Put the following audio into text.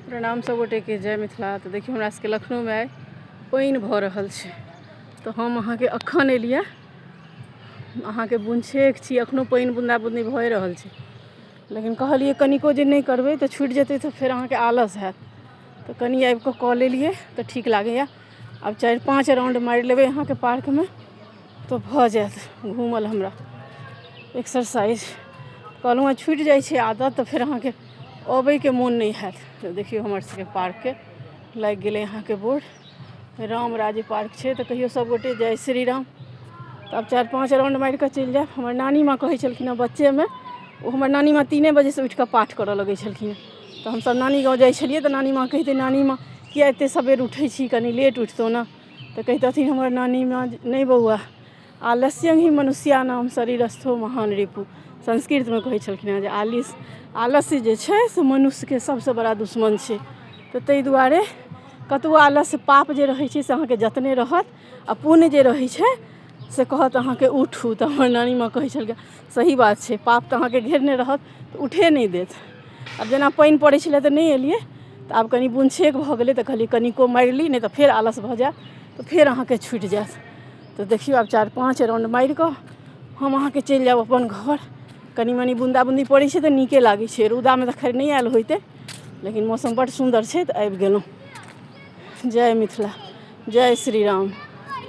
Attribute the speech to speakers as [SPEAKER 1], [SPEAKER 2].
[SPEAKER 1] प्रणाम सब गोटे के जय मिथिला तऽ देखियौ हमरा सबके लखनऊ मे आइ पानि भऽ रहल छै तऽ हम अहाँके अखन एलिया अहाँके बुनछेक छी अखनो पानि बुन्दा बुन्दी भए रहल छै लेकिन कहलियै कनिको जे नहि करबै तऽ छुटि जेतै तऽ फेर अहाँके आलस हैत तऽ कनि आबि कऽ कऽ लेलियै तऽ ठीक लागैया आब चारि पाँच राउंड मारि लेबै अहाँके पार्क मे तऽ भऽ जायत घूमल हमरा एक्सरसाइज कहलहुॅं छुटि जाइ छै आदत तऽ फेर अहाँके अबैके मोन नहि होयत तऽ देखियौ हमर सबके पार्कके लागि गेलै अहाँके बोर्ड राम राज्य पार्क छै तऽ कहियो सब गोटे जय श्री राम तऽ आब चारि पाँच राउंड मारि कऽ चलि जायब हमर नानी माँ कहै छलखिन हँ बच्चेमे ओ हमर नानी माँ तीने बजे सँ उठि कऽ पाठ करऽ लगै छलखिन हँ तऽ हमसब नानी गाँव जाइ छलियै तऽ नानी माँ कहितै नानी माँ किए एते सबेर उठै छी कनी लेट उठितहुँ ने तऽ कहितथिन हमर नानी माँ जे नहि बौआ आलस्यं ही मनुष्याणाम शरीरस्थो महान रिपु संस्कृतमे कहै छलखिन हेँ जे आलिस आलस्य जे छै से मनुष्यके सभसँ बड़ा दुश्मन छै तऽ ताहि दुआरे कतबो आलस्य पाप जे रहै छै से अहाँके जतने रहत आ पुण्य जे रहै छै से कहत अहाँके उठू तऽ हमर नानी माँ कहै छलखिन सही बात छै पाप तऽ अहाँके घेरने रहत तऽ उठे नहि देत आब जेना पानि पड़ै छलै तऽ नहि एलियै तऽ आब कनि बुन छेक भऽ गेलै तऽ कहलियै कनिको मारि ली नहि तऽ फेर आलस भऽ जायत तऽ फेर अहाँके छुटि जायत तऽ देखियौ आब चारि पाँच राउंड मारि कऽ हम अहाँके चलि जायब अपन घर कनि मनि बुन्दा बुन्दी पड़ै छै तऽ नीके लागै छै रौदामे तऽ खैर नहि आयल होइते लेकिन मौसम बड्ड सुन्दर छै तऽ आबि गेलहुँ जय मिथिला जय श्री राम